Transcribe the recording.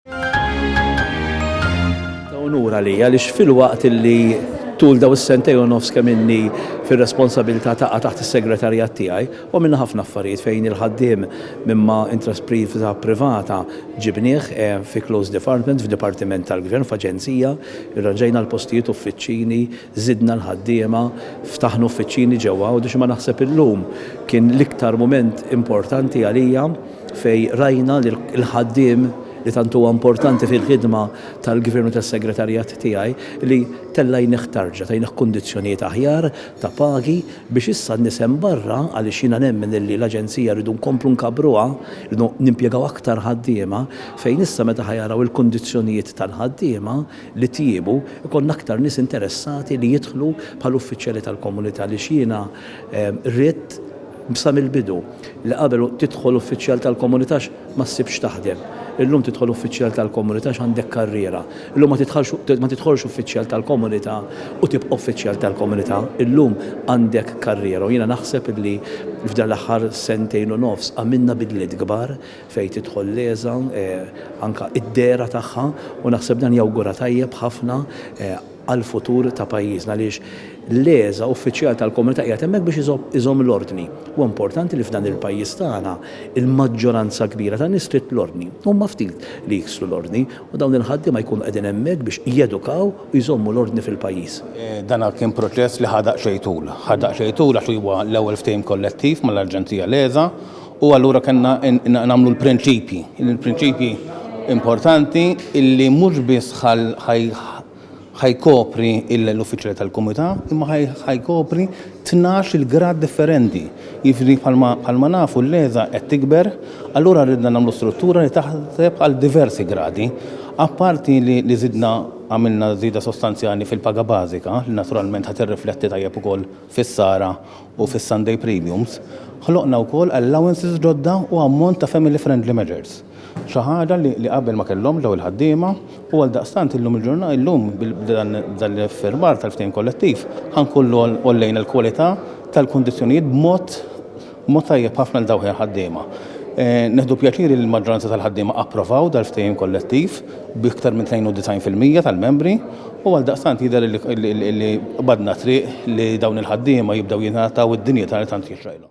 Ta' unur għalija għaliex filwaqt illi tul daw is-sentej u nofs kemm inni fir-responsabilità taqa' taħt is-segretarjat tiegħi u għamilna ħafna affarijiet fejn il-ħaddiem minn ma intraspriva privata ġibnieh eh, fi close department, f'dipartiment tal-gvern, f'aġenzija, irranġajna l-postijiet uffiċċini, żidna l-ħaddiema, ftaħna uffiċċini ġewwa Għawdex imma naħseb illum kien l-iktar mument importanti għalija fejn rajna li l-ħaddiem li tant huwa importanti fil-ħidma tal-Gvern u tas-Segretarjat tiegħi li tella' jnih tarġa, tajnih kundizzjonijiet aħjar ta' pagi biex issa n-nies hemm barra għaliex jiena nemmen illi l-Aġenzija rridu nkomplu nkabbruha, rridu nimpjegaw aktar ħaddiema, fejn issa meta ħa jaraw il-kundizzjonijiet tal-ħaddiema li tjiebu, ikollna aktar nies interessati li jidħlu bħala uffiċjali tal-komunità għaliex jiena ridt, Sa mill-bidu, li qabel tidħol uffiċjal tal-Komunità ma ssibx taħdem. Illum tidħol uffiċjal tal-Komunità għandek karriera. Illum ma tidħolx uffiċjal tal-Komunità u tibqa' uffiċjal tal-Komunità. Illum għandek karriera u jiena naħseb li f'dan l-aħħar sentejn u nofs għamilna bidliet kbar fejn tidħol l-ESA anke d-dehra tagħha u naħseb dan jawgura tajjeb ħafna għall-futur ta' pajjiżna għaliex l-ESA, uffiċjal tal-Komunità qiegħed hemmhekk biex iżomm l-ordni. Huwa importanti li f'dan il-pajjiż tagħna l-maġġoranza kbira tan-nies trid l-ordni. Huma ftit li jiksru l-ordni u dawn il-ħaddiema jkunu qegħdin hemmhekk biex jedukaw u jżommu l-ordni fil-pajjiż. Dan kien proċess li ħa daqsxejn tul. Ħa daqsxejn tul għax huwa l-ewwel ftehim kollettiv mal-Aġenzija l-ESA U allura kellna nagħmlu l-prinċipji, il-prinċipji importanti illi mhux biss ħajkopri l-uffiċjali tal-Kumità, imma ħajkopri tnax il-grad differenti. Jiġri bħalma nafu l-leża qed tikber, allura ridna nagħmlu struttura li taħseb għal diversi gradi. Apparti li zidna għamilna zida sostanzjali fil-paga bażika, li naturalment ħadd irrifletti tajjeb ukoll fis-sara u fis-Sunday premiums, ħloqna wkoll allowances ġodda u ammont ta' family friendly measures, xi ħaġa li qabel ma kellhomx dawn il-ħaddiema u għaldaqstant illum il-ġurnata, illum b'dan l-iffirmar tal-ftehim kollettiv ħa nkunu għollejna l-kwalità tal-kundizzjonijiet b'mod Mod tajjeb ħafna għal dawk il-ħaddiema. Nieħdu pjaċir li l-maġġoranza tal-ħaddiema approvaw dal-ftehim kollettiv b'iktar minn 92 fil-mija tal-membri u għaldaqstant jidher li qbadna t-triq li dawn il-ħaddiema jibdew jingħataw id-dinjità li tant jixraqilhom.